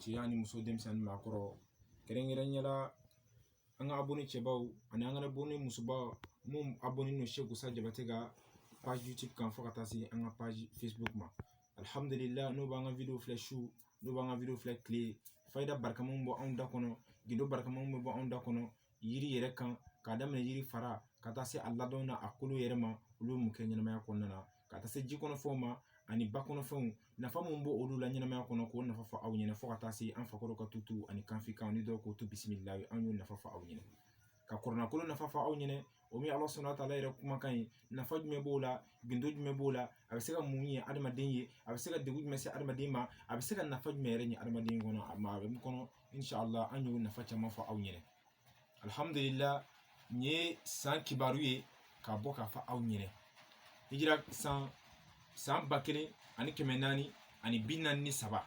cɛ ani muso denmisɛn ani maakɔrɔ kɛrɛnkɛrɛnnenya la an ka abɔni cɛbaw ani an ka abɔni musobaw mun abɔninen don sɛku sa jabatɛ ka page youtube kan fo ka taa se an ka page facebook ma alihamudulila n'o b'an ka video filɛ su n'o b'an ka video filɛ kile fayida barika mun bɔ anw da kɔnɔ gindo barika mun bɛ bɔ anw da kɔnɔ yiri yɛrɛ kan k'a daminɛ yiri fara ka taa se a ladɔn na a kolo yɛrɛ ma olu mun kɛ ɲɛnamaya kɔnɔna na ka taa se ji kɔnɔfɛnw ma ani ba kɔnɔfɛnw nafa mun b'olu la ɲɛnamaya kɔnɔ k'o nafa fɔ aw ɲɛna fo ka taa se an fakɔrɔ ka tutu ani kanfikan ni dɔw ko tu bisimila an y'o nafa fɔ aw ɲɛna ka kɔrana kolo nafa fɔ aw ɲɛna o min ala subhanahu wa ta'ala yɛrɛ kumakan ye nafa jumɛn b'o la gindo jumɛn b'o la a bɛ se ka mun ɲɛ adamaden ye a bɛ se ka degun jumɛn se adamaden ma a bɛ se ka nafa jumɛn yɛrɛ ɲɛ adamaden kɔnɔ a ma a bɛ min kɔnɔ inshallah an y'o nafa caman fɔ aw ɲɛna alihamudulila nin ye san kibaru ye ka bɔ k'a fɔ aw ɲɛna hijira san ba kelen ani kɛmɛ naani ani bi naani ni saba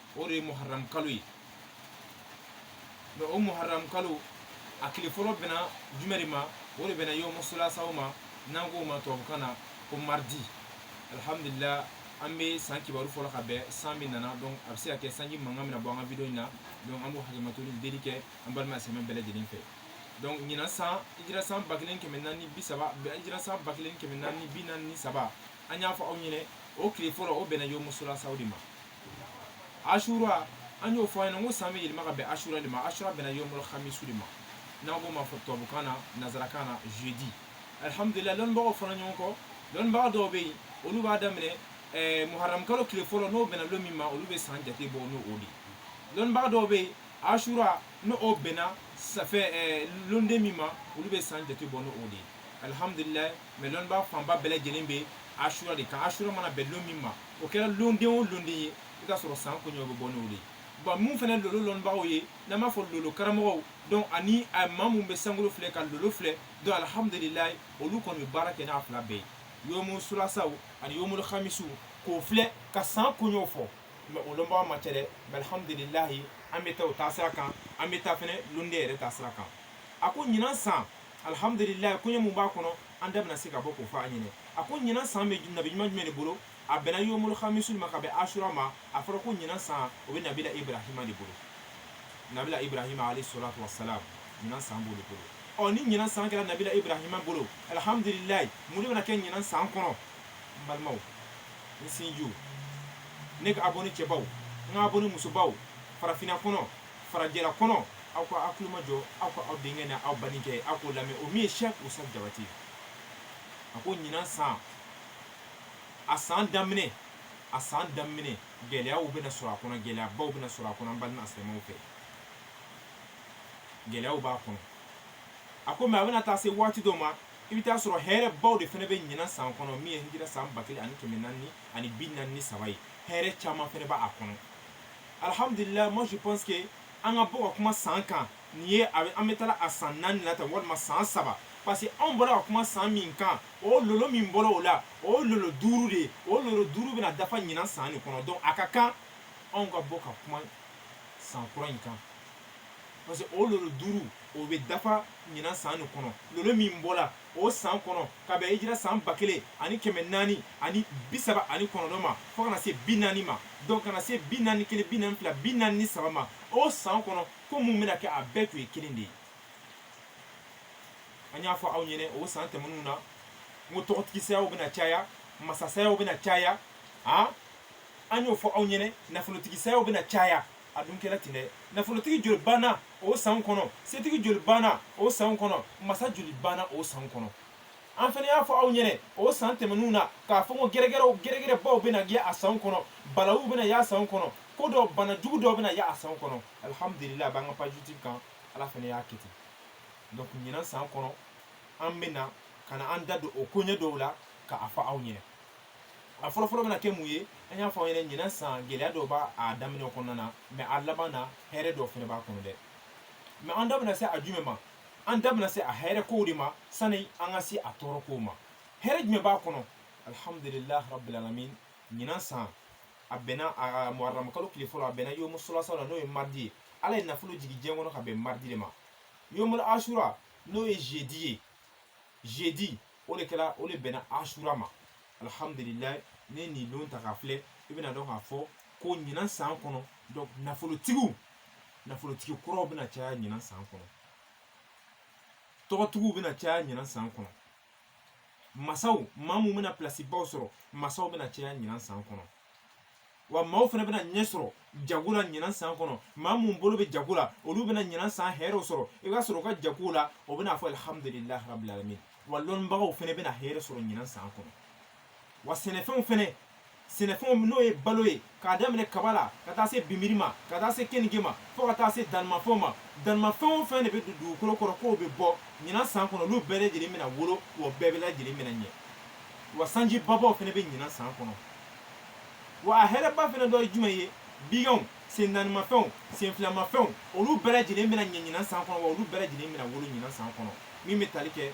o de ye muharram kalo ye mɛ o muharram kalo a kile fɔlɔ bɛnna jumɛn de ma o de bɛnna yomu sulasaw ma n'an k'o ma tubabukan na ko mardi alhamdulillah an bɛ san kibaru fɔ la ka bɛn san bɛ na na donc a bɛ se ka kɛ sanji mankan bɛna bɔ an ka video in na donc an b'o hakɛmatoli deli kɛ an balima silamɛ bɛɛ lajɛlen fɛ donc ɲinan san ijira san ba kelen kɛmɛ naani bi saba ijira san ba kelen kɛmɛ naani bi naani ni saba an y'a fɔ aw ɲɛna o kile fɔlɔ o bɛnna yomu sulasaw de ma asura an y'o fɔ a ɲɛna n ko san bɛ yɛlɛma ka bɛn asura de ma asura bɛnna yomul hamisu de ma n'an k'o ma fɔ tubabukan na nanzarakan na jeudi alihamudulila lɔnbagaw fɔra ɲɔgɔn kɔ lɔnbaga dɔw bɛ yen olu b'a daminɛ ɛɛ muharamu kalo kile fɔlɔ n'o bɛnna lon min ma olu bɛ san jate bɔ n'o o de ye lɔnbaga dɔw bɛ yen asura n'o o bɛnna ça fait ɛɛ londen min ma olu bɛ san jate bɔ n'o o de ye alihamudulila mɛ lɔnbaga fanba bɛɛ lajɛlen bɛ asura de kan asura mana bɛn lon min ma o kɛra londen o londen ye i ka sɔrɔ san koɲɛw bɛ bɔ n'o de ye wa mun fɛnɛ lolo lɔnbagaw ye n'an b'a fɔ lolo karamɔgɔw donc ani a maa mun bɛ sankolo filɛ ka lolo filɛ donc alihamudulilayi olu kɔni bɛ baara kɛ n'a fila bɛɛ ye yomu sulasaw ani yomu hamisu k'o filɛ ka san koɲɛw fɔ mɛ o lɔnbaga man ca dɛ mɛ alihamudulilayi an bɛ taa o taasira kan an bɛ taa fɛnɛ londen yɛrɛ taasira kan a ko ɲinan san alihamudulilayi koɲɛ mun b'a kɔnɔ an da bɛna se ka bɔ k'o fɔ aw ɲɛna a ko ɲinan san bɛ nabi ɲuman jumɛn de bolo a bɛnna yomul hamisu ma ka bɛn asura ma a fɔra ko ɲinan san o bɛ nabila ibrahima de bolo nabila ibrahima alayhi salatu wa salam ɲinan san b'o de bolo ɔ ni ɲinan san kɛra nabila ibrahima bolo alihamudulilayi mun de bɛna kɛ ɲinan san kɔnɔ n balimaw n sinjiw ne ka abɔni cɛbaw n ka abɔni musobaw farafinna kɔnɔ farajɛla kɔnɔ aw ka aw kulo majɔ aw ka aw denkɛ n'aw badenkɛ aw k'o lamɛn o min ye sɛk usa jabati a ko ɲinan san a san daminɛ a san daminɛ gɛlɛyaw bɛna sɔrɔ a kɔnɔ gɛlɛyabaw bɛna sɔrɔ a kɔnɔ an balima silamɛw fɛ gɛlɛyaw b'a kɔnɔ a ko mais a bɛna taa se waati dɔ ma i bɛ taa sɔrɔ hɛrɛbaw de fana bɛ ɲinan san kɔnɔ min ye hijira san ba kelen ani kɛmɛ naani ani bi naani ni saba ye hɛrɛ caman fana b'a kɔnɔ alhamdulillah moi je pense que an ka bɔ ka kuma san kan nin ye a bɛ an bɛ taa la a san naani na tan walima san saba parce que anw bɔra ka kuma san min kan o lolo min bɔra o la o lolo duuru de ye o lolo duuru bɛna dafa ɲinan san nin kɔnɔ donc a ka kan anw ka bɔ ka kuma san kura in kan parce que o lolo duuru o bɛ dafa ɲinan san nin kɔnɔ lolo min bɔra o san kɔnɔ ka bɛn hijira san ba kelen ani kɛmɛ naani ani bi saba ani kɔnɔntɔn ma fo ka na se bi naani ma donc ka na se bi naani kelen bi naani fila bi naani ni saba ma o san kɔnɔ ko min bɛna kɛ a bɛɛ tun ye kelen de ye an y'a fɔ aw ɲɛnɛ o san tɛmɛnenw na n ko tɔgɔtigisayaw bɛna caya masasayaw bɛna caya an y'o fɔ aw ɲɛnɛ nafolotigisayaw bɛna caya a dun kɛra ten dɛ nafolotigi joli banna o san kɔnɔ setigi joli banna o san kɔnɔ masa joli banna o san kɔnɔ an fana y'a fɔ aw ɲɛnɛ o san tɛmɛnenw na k'a fɔ ko gɛrɛgɛrɛw gɛrɛgɛrɛbaw bɛna kɛ a san kɔnɔ balawu bɛna y'a san kɔnɔ ko dɔ bana jugu dɔw bɛna y'a san kɔnɔ alihamudulila a b'an ka page YouTube kan ala fana y'a kɛ ten donc ɲinan san kɔnɔ an bɛna ka na an da don o koɲɛ dɔw la k'a fɔ aw ɲɛnɛ a fɔlɔfɔlɔ bɛna kɛ mun ye an y'a fɔ aw ɲɛna ɲinan san gɛlɛya dɔ b'a daminɛ kɔnɔna na mais a laban na hɛrɛ dɔ fɛnɛ b'a kɔnɔ dɛ mais an da bɛna se a jumɛn ma an da bɛna se a hɛrɛ kow de ma sani an ka se a tɔɔrɔ kow ma hɛrɛ jumɛn b'a kɔnɔ alhamdulilah rabbil alamin ɲinan san a bɛnna a muharram kalo tile fɔlɔ a bɛnna yomu sulasa la n'o ye mardi ye ala ye nafolo jigin diɲɛ kɔnɔ ka bɛn mardi de ma yomul asura n'o ye jeudi ye jeudi o de kɛra o de bɛnna asura ma alihamudulila n'i ye nin don ta k'a filɛ i bɛna dɔn k'a fɔ ko ɲinan san kɔnɔ donc nafolotigiw nafolotigi kuraw bɛna caya ɲinan san kɔnɔ tɔgɔtigiw bɛna caya ɲinan san kɔnɔ masaw maa mun bɛna pilasibaw sɔrɔ masaw bɛna caya ɲinan san kɔnɔ wa maaw fana bɛna ɲɛ sɔrɔ jago la ɲinan san kɔnɔ maa mun bolo bɛ jago la olu bɛna ɲinan san hɛrɛw sɔrɔ i b'a sɔrɔ u ka jago la o bɛna a fɔ alihamudulilayi rabbil alamin wa lɔnnibagaw fana bɛna hɛrɛ sɔrɔ ɲinan san kɔnɔ wa sɛnɛfɛnw fana sɛnɛfɛnw n'o ye balo ye k'a daminɛ kaba la ka taa se binbiri ma ka taa se keninge ma fo ka taa se danimafɛnw ma danimafɛn o fɛn de bɛ don dugukolo kɔrɔ k'o bɛ bɔ ɲinan san kɔnɔ olu bɛɛ lajɛlen bɛna wolo wa bɛɛ bɛ lajɛlen bɛna ɲɛ wa sanji babaw fana bɛ ɲinan san kɔnɔ wa a hɛrɛba fana dɔ ye jumɛn ye biganw sen naanimafɛnw sen filamafɛnw olu bɛɛ lajɛlen bɛna ɲɛ ɲinan san kɔnɔ wa olu bɛɛ lajɛlen bɛna wolo ɲinan san kɔnɔ min bɛ tali kɛ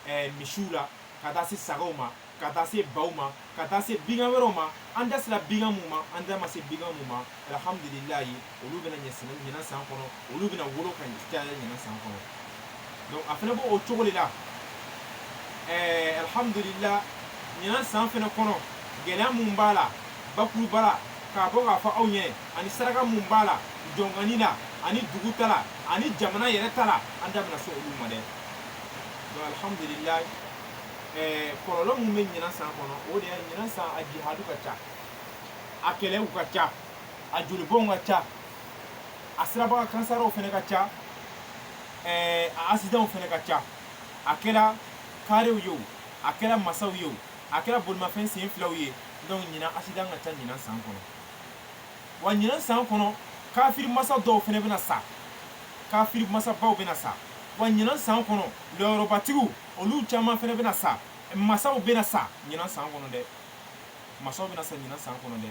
ɛɛ misiw la ka taa se sagaw ma ka taa se baw ma ka taa se bigan wɛrɛw ma an da sera bigan mun ma an da ma se bigan mun ma alhamdulilayi olu bɛna ɲɛ sɛnɛ ɲinan san kɔnɔ olu bɛna wolo ka caya ɲinan san kɔnɔ donc a fana b'o o cogo de la ɛɛ alhamdulila ɲinan san fana kɔnɔ gɛlɛya min b'a la bakuruba la k'a bɔ k'a fɔ aw ɲɛ ani saraka min b'a la jɔnkani la ani dugu ta la ani jamana yɛrɛ ta la an da bɛna se olu ma dɛ donc alhamdulila ɛɛ kɔlɔlɔ min bɛ ɲinan san kɔnɔ o de ye ɲinan san a jihadu ka ca a kɛlɛw ka ca a jolibɔnw ka ca a siraba kan kasaraw fana ka ca ɛɛ a asidanw fana ka ca a kɛra karew ye o a kɛra masaw ye o a kɛra bolimafɛn sen filaw ye donc ɲinan asidan ka ca ɲinan san kɔnɔ wa ɲinan san kɔnɔ kafiri masa dɔw fana bɛna sa kafiri masabaw bɛna sa wa ɲinan san kɔnɔ lɔyɔrɔbatigiw olu caman fana bɛna sa masaw bɛna sa ɲinan san kɔnɔ dɛ masaw bɛna sa ɲinan san kɔnɔ dɛ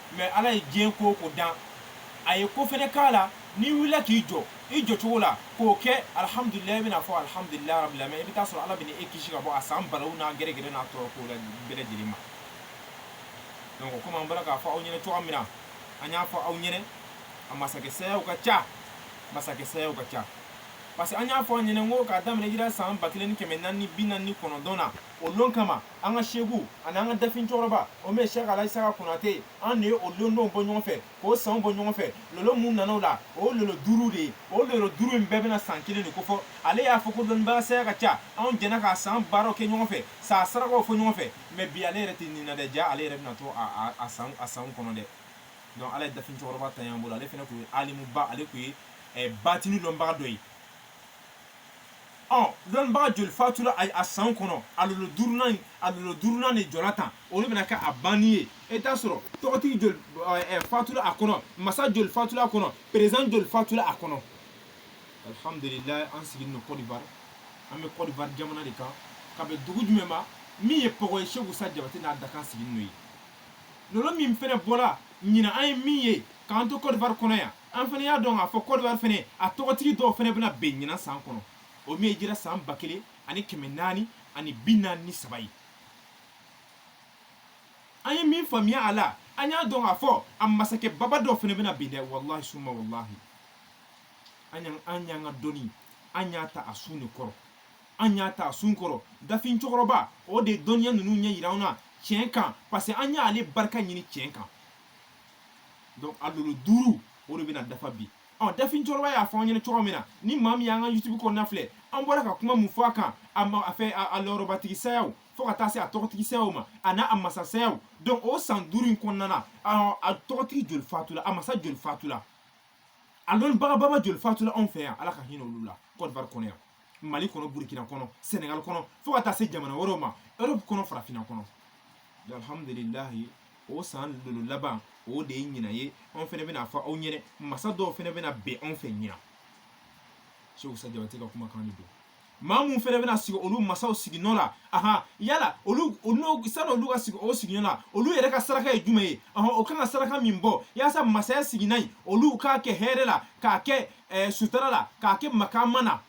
mais ala ye diɲɛ ko o ko dan a ye ko fɛnɛ k'a la n'i wulila k'i jɔ i jɔcogo la k'o kɛ alihamudulila i bɛna fɔ alihamudulila rabil alamin i bɛ taa sɔrɔ ala bɛna e kisi ka bɔ a san balaw n'a gɛrɛgɛrɛ n'a tɔɔrɔ kow bɛɛ lajɛlen ma donc komi an bɔra k'a fɔ aw ɲɛna cogoya min na an y'a fɔ aw ɲɛna a masakɛ sayaw ka ca masakɛ sayaw ka ca parce que an y'a fɔ aw ɲɛna ko k'a daminɛ hijira san ba kelen ni kɛmɛ naani bi naani ni kɔnɔntɔn na o lon kama an ka seku ani an ka dafin cɛkɔrɔba o min ye sɛk alaji isaka konate ye an de ye o londonw bɔ ɲɔgɔn fɛ k'o sanw bɔ ɲɔgɔn fɛ lolo mun nana o la o lolo duuru de ye o lolo duuru in bɛɛ bɛna san kelen de ko fɔ ale y'a fɔ ko dɔnnibaa saya ka ca anw jɛna k'a san baaraw kɛ ɲɔgɔn fɛ san sarakaw fɔ ɲɔgɔn fɛ mais bi ale yɛrɛ tɛ ni na dɛ ja ale yɛrɛ bɛna to a sanw kɔnɔ dɛ donc ala ye dafin cɛkɔrɔba ta y'an bolo ale fana tun ye alimuba ale tun ye eh, batini dɔnbaga dɔ ye dɔnbaga joli fatura a san kɔnɔ a lolo duurunan a lolo duurunan nin jɔra tan o de bɛna kɛ a banni ye e t'a sɔrɔ tɔgɔtigi joli fatura a kɔnɔ masa joli fatura a kɔnɔ président joli fatura a kɔnɔ alihamdulila an sigilen don côte d'ivoire an bɛ côte d'ivoire jamana de kan ka bɛn dugu jumɛn ma min ye pɔgɔ ye seku isa jabate n'a dakan sigi n'o ye lolo min fana bɔra ɲinan an ye min ye k'an to côte d'ivoire kɔnɔ yan an fɛnɛ y'a dɔn k'a fɔ kɔdiwari fɛnɛ a tɔgɔtigi dɔw fɛnɛ bɛna bɛn ɲinan san kɔnɔ o min ye jira san ba kelen ani kɛmɛ naani ani bi naani ni saba ye an ye min faamuya a la an y'a dɔn k'a fɔ a masakɛ baba dɔw fɛnɛ bɛna bin dɛ walahi suma walahi an y'an an y'an ka dɔnni an y'a ta a sun de kɔrɔ an y'a ta a sun kɔrɔ dafin cɛkɔrɔba o de ye dɔnniya ninnu ɲɛ yira an na tiɲɛ kan parce que an y'ale barika ɲini tiɲɛ kan donc a lolo duuru o de bɛna dafa bi ɔ dafin cɛkɔrɔba y'a fɔ an ɲɛna cogo min na ni maa min y'an ka youtube kɔnɔna filɛ an bɔra ka kuma mun fɔ a kan a ma a fɛ a lɔrɔbatigi sayaw fo ka taa se a tɔgɔtigi sayaw ma a n'a a masa sayaw donc o san duuru in kɔnɔna na a tɔgɔtigi joli fatula a masa joli fatula a lɔnnibaga baba joli fatula anw fɛ yan ala ka hinɛ olu la kɔdiwari kɔnɔ yan mali kɔnɔ burukina kɔnɔ senegal kɔnɔ fo ka taa se jamana wɛrɛw ma europe kɔnɔ farafinna kɔnɔ alhamdulilahi o san lolo laban o de ye ɲina ye anw fɛnɛ bɛna a fɔ aw ɲɛnɛ masa dɔw fɛnɛ bɛna bɛn anw fɛ ɲina seku usa jabate ka kumakan de don maa mun fɛnɛ bɛna sigi olu masaw siginɔ la ahan yala olu sani olu ka sigi o siginɔ la olu yɛrɛ ka saraka ye jumɛn ye ahan o kan ka saraka min bɔ yaasa masaya siginan in olu k'a kɛ hɛrɛ la k'a kɛ eh, sutara la k'a kɛ makama na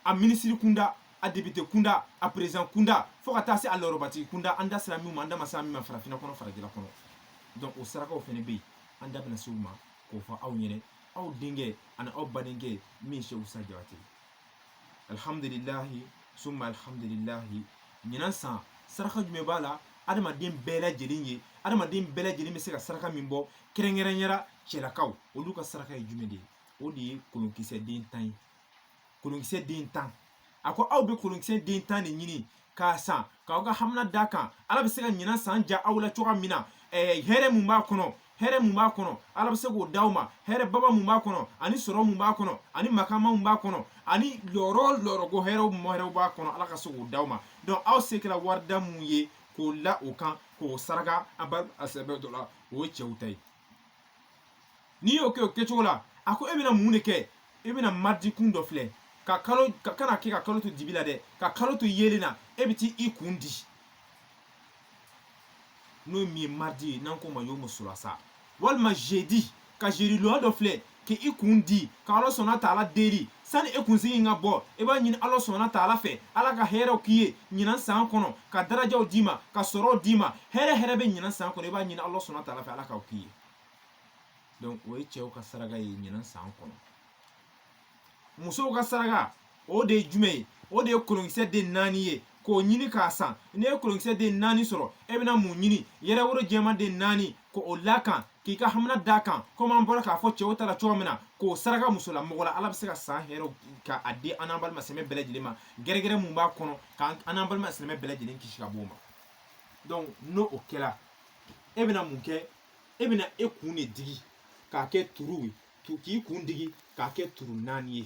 a minisiri kunda a député kunda a président kunda fo ka taa se a lɔrɔbatigi kunda an da sera min ma an da ma sera min ma farafinna kɔnɔ farajɛla kɔnɔ donc o sarakaw fɛnɛ bɛ yen an da bɛna se u ma k'o fɔ aw ɲɛnɛ aw denkɛ ani aw badenkɛ min ye seku usa jabate alihamdulilahi suma alihamdulilahi ɲinan san saraka jumɛn b'a la adamaden bɛɛ lajɛlen ye adamaden bɛɛ lajɛlen bɛ se ka saraka min bɔ kɛrɛnkɛrɛnyara cɛlakaw olu ka saraka ye jumɛn de ye o de ye kolonkisɛ den tan ye kolonkisɛ den tan a ko aw bɛ kolonkisɛ den tan de ɲini k'a san k'aw ka hamina d'a kan ala bɛ se ka ɲinan san diya aw la cogoya min na eh, hɛrɛ mun b'a kɔnɔ hɛrɛ mun b'a kɔnɔ ala bɛ se k'o d'aw ma hɛrɛ baba mun b'a kɔnɔ ani sɔrɔ mun b'a kɔnɔ ani makama mun b'a kɔnɔ ani lɔrɔ lɔrɔko hɛrɛ o hɛrɛ b'a kɔnɔ ala ka se k'o d'aw ma donc aw se kɛra warida mun ye k'o la o kan k'o saraka maa sɛbɛ dɔ la o ye cɛw ta ye n'i y'o kɛ o kɛcogo la a ko e bɛna mun de kɛ e bɛna mardi kun dɔ filɛ ka kalo ka kana kɛ ka kalo to dibi la dɛ ka kalo to yeelen na e bɛ t'i kun di n'o min ye mardi ye n'an k'o ma yomu sulasa walima jeudi ka jeudi lon dɔ filɛ k'i kun di ka ala sɔnna taala deli sani e kunsigi ka bɔ e b'a ɲini ala sɔnna taala fɛ ala ka hɛrɛw k'i ye ɲinan san kɔnɔ ka darajaw d'i ma ka sɔrɔw d'i ma hɛrɛ hɛrɛ bɛ ɲinan san kɔnɔ i b'a ɲini ala sɔnna taala fɛ ala k'aw k'i ye donc o ye cɛw ka saraka ye ɲinan san kɔnɔ musow ka saraka o de ye jumɛn ye o de ye kolonkisɛ den naani ye k'o ɲini k'a san n'i ye kolonkisɛ den naani sɔrɔ e bɛna mun ɲini yɛrɛworo jɛman den naani k'o l'a kan k'i ka hamina d'a kan komi an bɔra k'a fɔ cɛw ta la cogo min na k'o saraka musolamɔgɔ la ala bɛ se ka san hɛrɛw k'a di an n'an balima silamɛ bɛɛ lajɛlen ma gɛrɛgɛrɛ mun b'a kɔnɔ k'an n'an balima silamɛ bɛɛ lajɛlen kisi ka b'o ma donc ni o kɛra e bɛna mun kɛ e bɛna e kun de digi k'a kɛ turu ye k'i kun digi k'a kɛ turu naani ye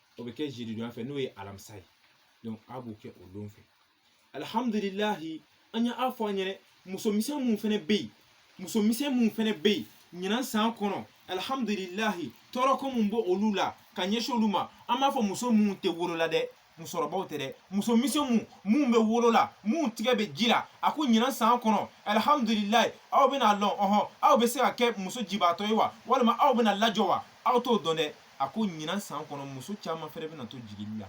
o bɛ kɛ jeudi don fɛ n'o ye alamisa ye donc aw b'o kɛ o don fɛ alihamdulilahi an y'a fɔ an yɛrɛ musomisɛn minnu fana bɛ yen musomisɛn minnu fana bɛ yen ɲinan san kɔnɔ alihamdulilahi tɔɔrɔko min bɛ olu la ka ɲɛsin olu ma an b'a fɔ muso minnu tɛ wolo la dɛ musokɔrɔbaw tɛ dɛ muso misɛnw minnu bɛ wolo la minnu tigɛ bɛ ji la a ko ɲinan san kɔnɔ alihamdulilahi aw bɛna lɔn ɔhɔn aw bɛ se ka kɛ muso jibaatɔ ye wa walima aw bɛna lajɔ wa aw t'o dɔn dɛ a ko ɲinan san kɔnɔ muso caman fɛnɛ bɛna to jigili la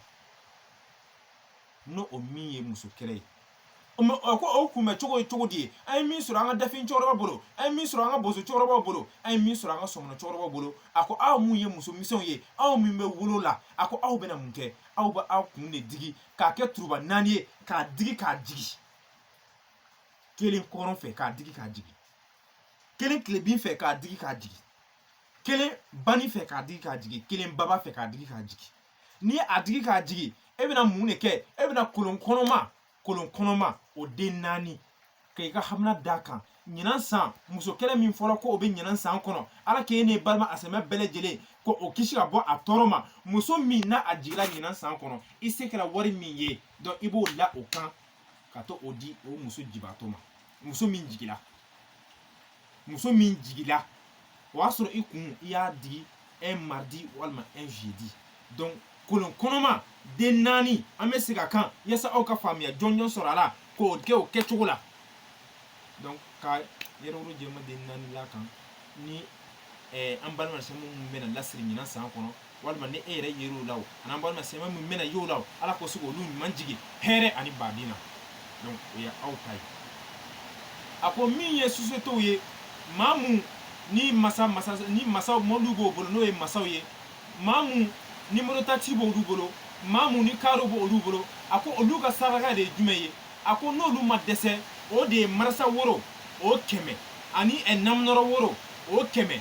ni o min ye muso kɛlɛ ye ko o kunbɛ cogo ye cogo di ye an ye min sɔrɔ an ka dafin cɛkɔrɔba bolo an ye min sɔrɔ an ka boso cɛkɔrɔbaw bolo an ye min sɔrɔ an ka sɔmɔnɔ cɛkɔrɔbaw bolo a ko aw min ye muso misɛnw ye aw min bɛ wolo la a ko aw bɛna mun kɛ aw bɛ aw kun de digi k'a kɛ turuba naani ye k'a digi k'a jigi kelen kɔrɔn fɛ k'a digi k'a jigi kelen tilebin fɛ k'a digi k'a jigi kelen bani fɛ k'a digi k'a jigin kelen baba fɛ k'a digi k'a jigin n'i ye a digi k'a jigin e bɛna mun de kɛ e bɛna kolon kɔnɔma kolon kɔnɔma o den naani k'i ka hamina d'a kan ɲinan san muso kɛlɛ min fɔra ko o bɛ ɲinan san kɔnɔ ala k'e n'e balima silamɛ bɛɛ lajɛlen k'o kisi ka bɔ a tɔɔrɔ ma muso min n'a a jigira ɲinan san kɔnɔ i se kɛra wari min ye donc i b'o la o kan ka to o di o muso jibaatɔ ma muso min jigila muso min jigila o y'a sɔrɔ i kun i y'a digi un mardi walima un jeudi donc kolon kɔnɔma den naani an bɛ segin a kan yasa aw ka faamuya jɔnjɔn sɔrɔ a la k'o kɛ o kɛcogo la donc ka yɛrɛworo jɛman den naani l'a kan ni an balima silamɛ min bɛna lasiri ɲinan san kɔnɔ walima ni e yɛrɛ yer'o la o an'an balima silamɛ min bɛna y'o la o ala ka se k'olu ɲuman jigin hɛrɛ ani baden na donc o ye aw ta ye a ko min ye sociétéw ye maa mun ni masa ni masaw mɔbiliw b'o bolo n'o ye masaw ye maa mun ni mototakisi b'olu bolo maa mun ni karo b'olu bolo a ko olu ka saraka de ye jumɛn ye a ko n'olu ma dɛsɛ o de ye marasa woro o kɛmɛ ani namunɔrɔ woro o kɛmɛ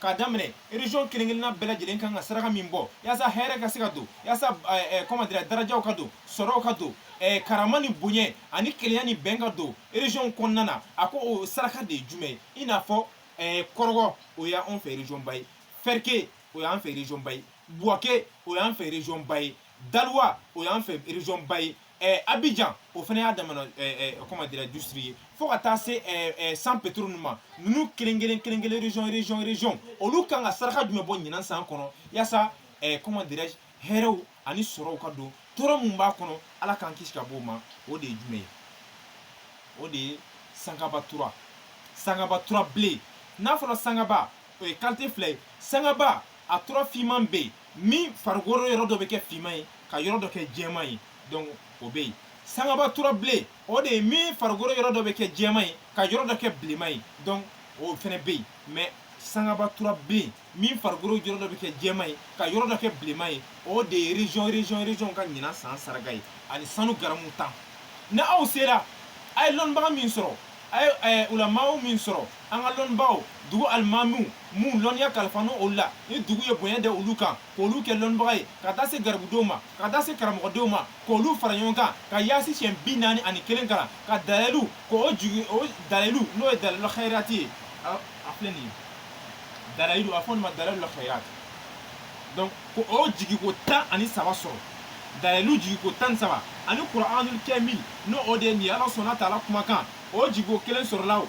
k'a daminɛ region kelenkelenna bɛɛ lajɛlen kan ka saraka min bɔ yasa hɛrɛ ka se ka don yasa comment dire darajaw ka don sɔrɔw ka don karama ni bonya ani kelenya ni bɛn ka don region kɔnɔna na a ko o saraka de ye jumɛn ye i n'a fɔ kɔrɔgɔ o y'an fɛ region ba ye fɛrike o y'an fɛ region ba ye buwake o y'an fɛ region ba ye daluwa o y'an fɛ région ba ye ɛɛ abijan o fana y'a damana ɛɛ comment dira district ye fo ka taa se ɛɛ San Pedro ninnu ma ninnu kelen kelen kelen kelen région région région olu kan ka saraka jumɛn bɔ ɲinan san kɔnɔ yaasa ɛɛ comment dira hɛrɛw ani sɔrɔw ka don tɔɔrɔ mun b'a kɔnɔ ala k'an kisi ka bɔ o ma o de ye jumɛn ye o de ye sangaba tura sangaba tura bilen n'a fɔra sangaba o ye qualité fila ye sangaba a tura finman bɛ yen min farikolo yɔrɔ dɔ bɛ kɛ finman ye ka yɔrɔ dɔ kɛ jɛman ye donc o bɛ yen sangaba tura bilen o de ye min farikolo yɔrɔ dɔ bɛ kɛ jɛman ye ka yɔrɔ dɔ kɛ bilenman ye donc o fɛnɛ bɛ yen mais sangaba tura bilen min farikolo yɔrɔ dɔ bɛ kɛ jɛman ye ka yɔrɔ dɔ kɛ bilenman ye o de ye région région région ka ɲinan san saraka ye ani sanu garamu tan ni aw sera a ye lɔnnibaga min sɔrɔ a ye ulamaw min sɔrɔ an ka lɔnnibagaw dugu alimamiw minnu lɔnniya kalifanen olu la ni dugu ye bonya da olu kan k'olu kɛ lɔnnibaga ye ka taa se garibudenw ma ka taa se karamɔgɔdenw ma k'olu fara ɲɔgɔn kan ka yaasin siyɛn bi naani ani kelen kalan ka dalilu k'o jigi o dalilu n'o ye dalilu xayirati ye a filɛ nin ye dalilu a fɔ nin ma dalilu xayirati donc ko o jigiko tan ani saba sɔrɔ dalilu jigiko tan ni saba ani kuranul kamil n'o o de ye nin ye ala subhana taala kumakan o jigiko kelen sɔrɔla o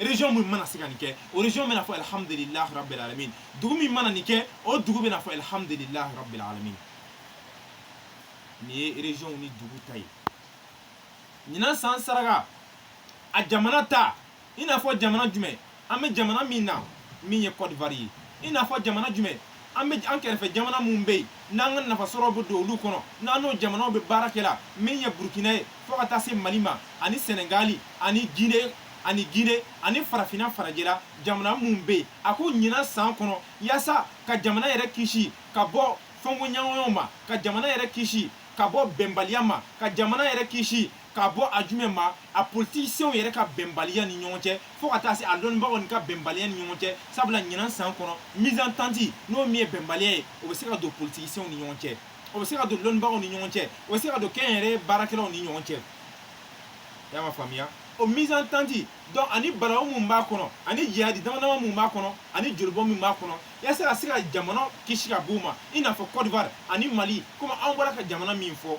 région min mana se ka nin kɛ o région bɛna fɔ alhamdulilah rabbil alamin dugu min mana nin kɛ o dugu bɛna fɔ alhamdulilah rabbil alamin nin ye région ni dugu ta ye ɲinan san saraka a jamana ta i n'a fɔ jamana jumɛn an bɛ jamana min na min ye Côte d'Ivoire ye i n'a fɔ jamana jumɛn an bɛ an kɛrɛfɛ jamana minnu bɛ yen n'an ka nafa sɔrɔ bɛ don olu kɔnɔ n'an n'o jamanaw bɛ baara kɛ la min ye burukina ye fo ka taa se mali ma ani sɛnɛgali ani gine ani gine ani farafinna farajɛla jamana minnu bɛ yen a ko ɲinan san kɔnɔ yaasa ka jamana yɛrɛ kisi ka bɔ fɔnkɔɲɔgɔnyaw ma ka jamana yɛrɛ kisi ka bɔ bɛnbaliya ma ka jamana yɛrɛ kisi ka bɔ a jumɛn ma a politisiɲɛw yɛrɛ ka bɛnbaliya ni ɲɔgɔn cɛ fo ka taa se a lɔnnibagaw ni ka bɛnbaliya ni ɲɔgɔn cɛ sabula ɲinan san kɔnɔ mésentente n'o min ye bɛnbaliya ye o bɛ se ka don politisiɲɛw ni ɲɔgɔn cɛ o bɛ se ka don lɔnnibagaw ni ɲɔgɔn cɛ o bɛ se ka don kɛnyɛrɛye baarakɛlaw ni ɲɔgɔn cɛ y'a ma faamuya o mésentente donc ani balawu min b'a kɔnɔ ani jahadi dama dama min b'a kɔnɔ ani jolibɔn min b'a kɔnɔ yasa ka se ka jamana kisi ka b'u ma i n'a fɔ Côte d'Ivoire ani Mali komi an bɔra ka jamana min fɔ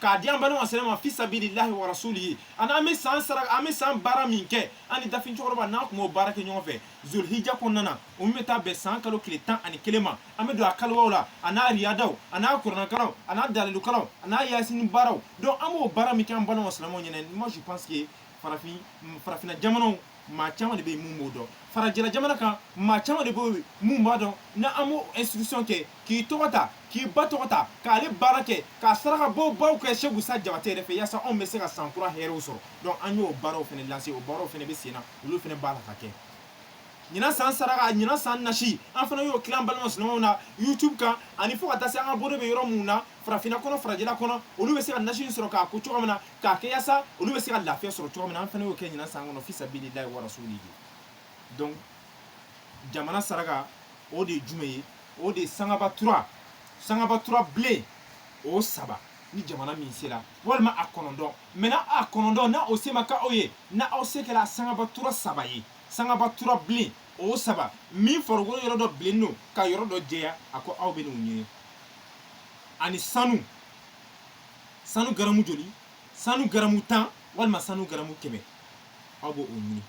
k'a di an balima silamɛw ma fisabililahi wa rasulihi ani an bɛ san sara an bɛ san baara min kɛ an ni dafin cɛkɔrɔba n'an kun b'o baara kɛ ɲɔgɔn fɛ zolihija kɔnɔna na o min bɛ taa bɛn san kalo tile tan ani kelen ma an bɛ don a kaluwaw la a n'a riyadaw a n'a kuranakalanw a n'a dalilukalanw a n'a yasini baaraw donc an b'o baara min kɛ an balima silamɛw ɲɛna moi je pense que farafin farafinna jamanaw maa caman de bɛ yen mun b'o dɔn farajɛla jamana kan maa caman de b'o yen mun b'a dɔn ni an b'o inscription kɛ k'i tɔgɔ ta k'i ba tɔgɔ ta k'ale baara kɛ ka saraka bɔ baw kɛ seku sa jabate yɛrɛ fɛ yaasa anw bɛ se ka san kura hɛrɛw sɔrɔ donc an y'o baaraw fana lancer o baaraw fana bɛ sen na olu fana b'a la ka kɛ ɲinan san saraka ɲinan san nasi an fana y'o tilan balima silamɛw na youtube kan ani fo ka taa se an ka bolo bɛ yɔrɔ minnu na farafinna kɔnɔ farajɛla kɔnɔ olu bɛ se ka nasi in sɔrɔ k'a ko cogo min na k'a kɛ yaasa olu bɛ se ka lafiya sɔrɔ cogo min na an fana y'o kɛ ɲinan san kɔnɔ fi sabililahi wa rasulihi donc jamana saraka o de ye jumɛn ye o de ye sangaba tura sangaba tura bilen o saba ni jamana min sera walima a kɔnɔntɔn maintenant a kɔnɔntɔn na o se ma k'aw ye na aw se kɛra sangaba tura saba ye sangaba tura bilen o saba min farikolo yɔrɔ dɔ bilennen don ka yɔrɔ dɔ jɛya a ko aw bɛn'o ɲini ani sanu sanu garamu joli sanu garamu tan walima sanu garamu kɛmɛ aw b'o ɲini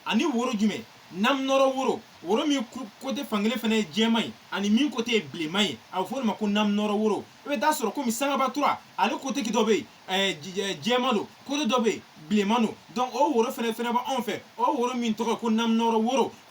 ani woro jumɛn nam nɔrɔ woro woro min côté fankelen fana ye jɛman ye ani min côté ye bilenman ye a bɛ fɔ o de ma ko nam nɔrɔ woro i bɛ t'a sɔrɔ komi sangaba tura ale côté dɔ bɛ yen jɛman don côté dɔ bɛ yen bilenman don donc o woro fana fana bɛ anw fɛ o woro min tɔgɔ ko nam nɔrɔ woro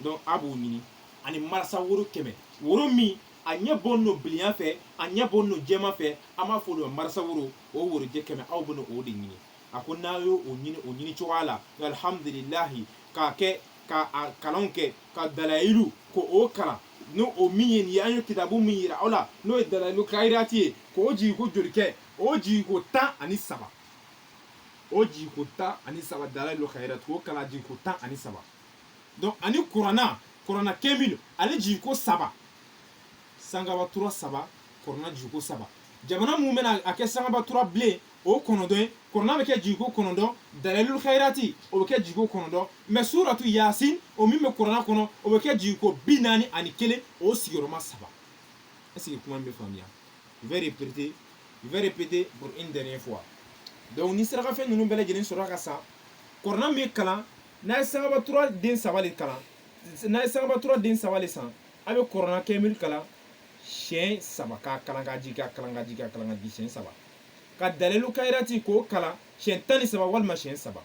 donc a b'o ɲini ani marasa woro kɛmɛ woro min a ɲɛ bɔlen don bilenya fɛ a ɲɛ bɔlen don jɛman fɛ an b'a fɔ o ma marasa woro o worojɛ kɛmɛ aw bɛna o de ɲini a ko n'a y'o ɲini o ɲini cogoya la alhamdulilahi k'a kɛ ka a kalanw kɛ ka dalayilu k'o kalan n'o o min ye nin ye an ye kitabu min yira aw la n'o ye dalayilu kayirati ye k'o jigin ko joli kɛ o jigin ko tan ani saba o jigiko tan ani saba dalayilu kayirati o kalan jigiko tan ani saba donc ani kurana kurana kemil ale jigiko saba sangaba tura saba kurana jigiko saba jamana min bɛna a kɛ sangaba tura bilen o kɔnɔntɔn ye kurana bɛ kɛ jigiko kɔnɔntɔn dalalul khairati o bɛ kɛ jigiko kɔnɔntɔn mais suratu yasin o min bɛ kurana kɔnɔ o bɛ kɛ jigiko bi naani ani kelen o sigiyɔrɔma saba est-ce que kuma in bɛ faamuya vais répéter je vais répéter pour une dernière fois donc ni sarakafɛn ninnu bɛɛ lajɛlen sɔrɔla k'a san kurana min kalan n'a ye sangaba tura den saba de kalan n'a ye sangaba tura den saba de san a bɛ kurana kemil kalan siɲɛ saba k'a kalan k'a jigin k'a kalan k'a jigin k'a kalan k'a jigin siɲɛ saba ka dalilu kayirati k'o kalan siɲɛ tan ni saba walima siɲɛ saba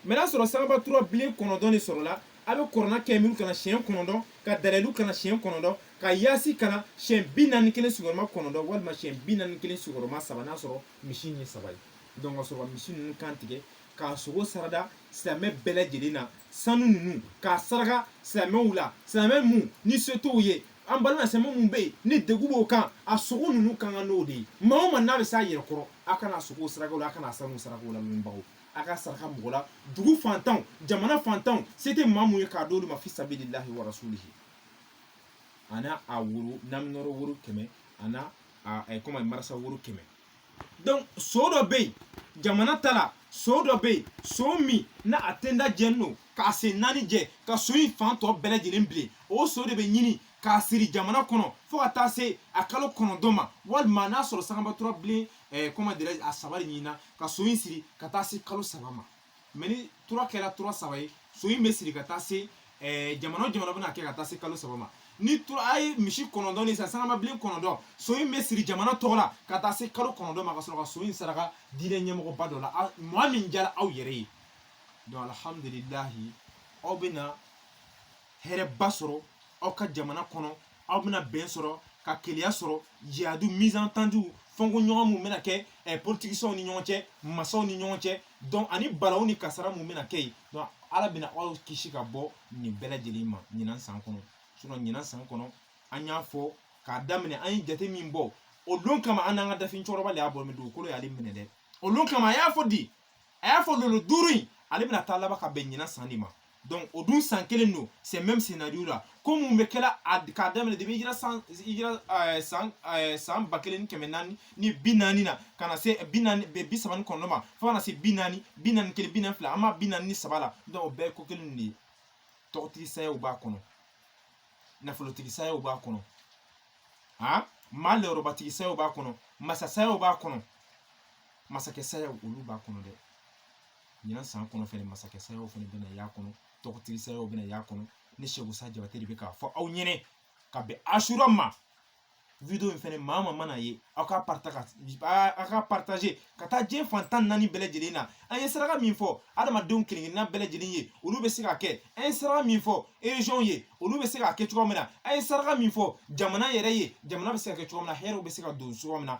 mɛ n'a sɔrɔ sangabatura bilen kɔnɔntɔn de sɔrɔla a bɛ kurana kɛrimu kalan siɲɛ kɔnɔntɔn ka dalayilu kalan siɲɛ kɔnɔntɔn ka yasin kalan siɲɛ bi naani kelen sigiyɔrɔma kɔnɔntɔn walima siɲɛ bi naani kelen sigiyɔrɔma saba n'a sɔrɔ misi ye saba ye donc ka sɔrɔ ka misi ninnu kan tigɛ k'a sogo sarada silamɛ bɛɛ lajɛlen na sanu ninnu k'a saraka silamɛw la silamɛ mun ni se t'o ye an balima silamɛ mun bɛ yen ni dɛgun b'o kan a sogo ninnu kan ka n'o de ye maa o maa n'a bɛ s'a yɛrɛ kɔrɔ a kana a sogo saraka o la a kana a sanu saraka o la lamɛnbagaw a ka saraka mɔgɔ la dugu fantanw jamana fantanw se tɛ maa mun ye k'a d'olu ma fi sabilillahi wa rasulihi a n'a a woro naminɔrɔ woro kɛmɛ a n'a a ɛ kɔmi marasa woro kɛmɛ donc so dɔ bɛ yen jamana ta la so dɔ bɛ yen so min na a tenda jɛnin don k'a sen naani jɛ ka so in fan tɔ bɛɛ lajɛlen bilen o so de bɛ ɲini k'a siri jamana kɔnɔ fo ka taa se a kalo kɔnɔntɔn ma walima n'a sɔrɔ sangabatura bilen eh, comment dirais a saba de ɲinina ka so in siri ka taa se kalo saba ma mɛ ni tura kɛra tura saba ye so in bɛ siri ka taa se eh, jamana o jamana bɛna kɛ ka taa se kalo saba ma ni tura a ye misi kɔnɔntɔn ni san sangaba bilen kɔnɔntɔn so in bɛ siri jamana tɔgɔ la ka taa se kalo kɔnɔntɔn ma ka sɔrɔ ka so in saraka diinɛ ɲɛmɔgɔba dɔ la maa min diyara aw yɛrɛ ye donc alhamdulilahi aw bɛna hɛrɛba sɔrɔ aw ka jamana kɔnɔ aw bɛna bɛn sɔrɔ ka kelenya sɔrɔ jihadu mésentendu fɔnkɔ ɲɔgɔn mun bɛna kɛ eh, politikicɛw ni ɲɔgɔn cɛ masaw ni ɲɔgɔn cɛ donc ani balaw ni kasara mun bɛna kɛ yen donc ala bɛna aw kisi ka bɔ nin bɛɛ lajɛlen ma ɲinan san kɔnɔ sinon ɲinan san kɔnɔ an y'a fɔ k'a daminɛ an ye jate min bɔ o don kama an n'an ka dafin cɛkɔrɔba de y'a bɔ mɛ dugukolo y'ale minɛ dɛ o don kama a y'a fɔ di a y'a fɔ lolo duuru in ale bɛna taa laban ka bɛn ɲinan san de ma donc o dun san kelen don c'est même scénario là ko mun bɛ kɛla a k'a daminɛ depuis hijira san hijira ɛɛ san ɛɛ san ba kelen ni kɛmɛ naani ni bi naani na ka na se bi naani bi saba ni kɔnɔntɔn ma fo ka na se bi naani bi naani kelen bi naani fila an b'a bi naani ni saba la donc o bɛɛ ye ko kelen de ye tɔgɔtigi sayaw b'a kɔnɔ nafolotigi sayaw b'a kɔnɔ han maa lɔyɔrɔbatigi sayaw b'a kɔnɔ masa sayaw b'a kɔnɔ masakɛ saya olu b'a kɔnɔ dɛ ɲinan san kɔnɔ fɛnɛ masakɛ sayaw fɛnɛ bɛna y'a kɔnɔ tɔgɔtigi sayaw bɛna y'a kɔnɔ ne seku sa jabate de bɛ k'a fɔ aw ɲɛnɛ ka bɛn asura ma video in fɛnɛ maa maa man'a ye aw ka parta ka aw ka partager ka taa diɲɛ fan tan naani bɛɛ lajɛlen na an ye saraka min fɔ adamadenw kelenkelenna bɛɛ lajɛlen ye olu bɛ se ka kɛ an ye saraka min fɔ erezyɔnw ye olu bɛ se ka kɛ cogoya min na an ye saraka min fɔ jamana yɛrɛ ye jamana bɛ se ka kɛ cogoya min na hɛrɛw bɛ se ka don cogoya min na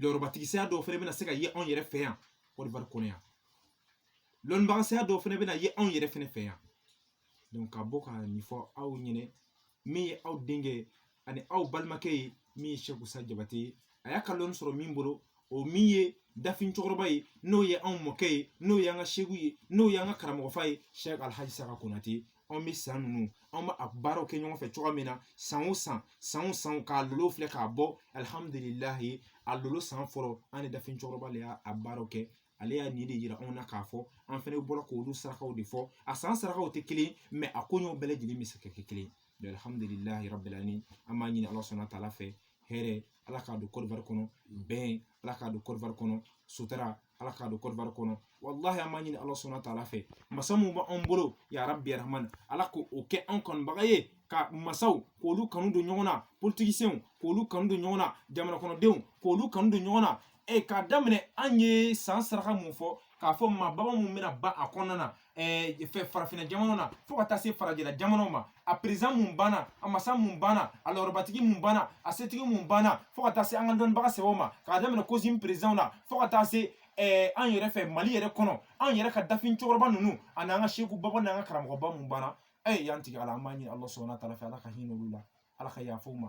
lɔrɔbatigi saya dɔw fɛnɛ bɛna se ka ye anw yɛrɛ fɛ yan Côte d'Ivoire kɔnɔ yan lɔnnibaga saya dɔw fɛnɛ bɛna ye anw yɛrɛ fɛnɛ fɛ yan donc ka bɔ ka nin fɔ aw ɲɛnɛ min ye aw denkɛ ani aw balimakɛ ye min ye sɛku sa jabate ye a y'a ka lɔnni sɔrɔ min bolo o min ye dafin cɛkɔrɔba ye n'o ye anw mɔkɛ ye n'o y'an ka seku ye n'o y'an ka karamɔgɔfa ye sɛki alhaji saka konate anw bɛ san ninnu anw bɛ a baaraw kɛ ɲɔgɔn fɛ cogoya min na san o san san o san k'a lolo filɛ k'a bɔ alihamudulilayi a lolo san fɔlɔ an ni dafin cɛkɔrɔba de y'a a baaraw kɛ ale y'a nin de yira anw na k'a fɔ an fɛnɛ bɔra k'olu sarakaw de fɔ a san sarakaw tɛ kelen mais a koɲɛw bɛɛ lajɛlen bɛ se ka kɛ kelen ye alihamudulilayi rabil alamin an b'a ɲini ala subahana wa taala fɛ hɛrɛ ala k'a don Côte d'Ivoire kɔnɔ bɛn ala k'a don Côte d'Ivoire kɔnɔ sutura ala k'a don Côte d'Ivoire kɔnɔ walahi an b'a ɲini ala subahana wa taala fɛ masa mun b'an bolo ya rabi ya rahamani ala ka o kɛ anw kanubaga ye ka masaw k'olu kanu don ɲɔgɔn na politikisenw k'olu kanu don ɲɔgɔn na jamanakɔnɔdenw k'olu kanu don ɲɔgɔn na e k'a daminɛ an ye san saraka mun fɔ k'a fɔ maa baba mun bɛna ban a kɔnɔna na fɛ farafinna jamanaw na fo ka taa se farajɛla jamanaw ma a perezan mun banna a masa mun banna a lɔrɔbatigi mun banna a setigi mun banna fo ka taa se an ka dɔnnibaga sɛbɛw ma k'a daminɛ kosin perezanw na fo ka taa se an yɛrɛ fɛ mali yɛrɛ kɔnɔ an yɛrɛ ka dafin cɛkɔrɔba ninnu ani an ka seku baba n'an ka karamɔgɔba mun banna e y'an tigi ala an b'a ɲini ala subahana wa taala fɛ ala ka hinɛ olu la ala ka yafa ma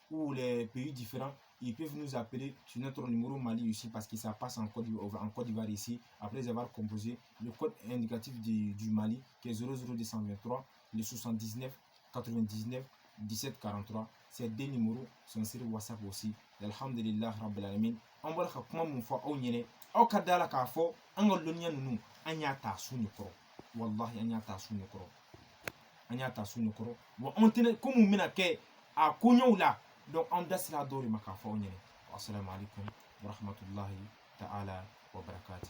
ou les pays différents, ils peuvent nous appeler sur notre numéro Mali aussi parce que ça passe en Côte d'Ivoire ici, après avoir composé le code indicatif du, du Mali qui est 00223, le 79 99 17 43. Ces deux numéros sont sur WhatsApp aussi. Alhamdulillah Rabbil Alamin. An bɔra ka kuma mun fɔ aw ɲɛnɛ aw ka da a la k'a fɔ an ka lɔnniya ninnu an y'a ta su ne kɔrɔ walahi an y'a ta su ne kɔrɔ an y'a ta su ne kɔrɔ wa an tɛna ko mun bɛna kɛ a koɲɛw la donc an da sera dɔw de ma k'a fɔ aw ɲɛnɛ wasalaamu aleykum warahmatulahi taala wabarakatu